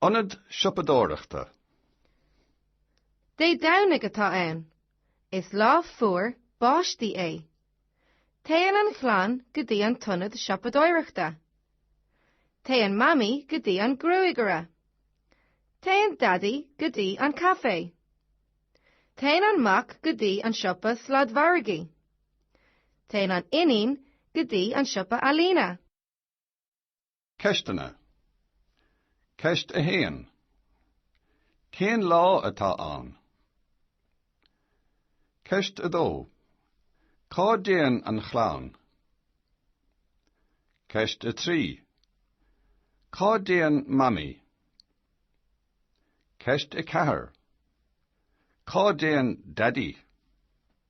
Ionad siopadóireachta. Dé Domhnaigh atá ann. Is lá fuar báistí é. Téann an chlann go dtí an t-ionad siopadóireachta. Téann Mamaí go dtí an gruagaire. Téann Daidí go dtí an caifé. Téann an mac go dtí an siopa sladmhargaidh. Téann an iníon go dtí an siopa ealaíne. Ceisteanna. Ceist 1 Cén lá atá ann? Ceist 2 Cá dtéann an chlann? Ceist 3 Cá dtéann Mamaí? Ceist 4 Cá dtéann Daidí?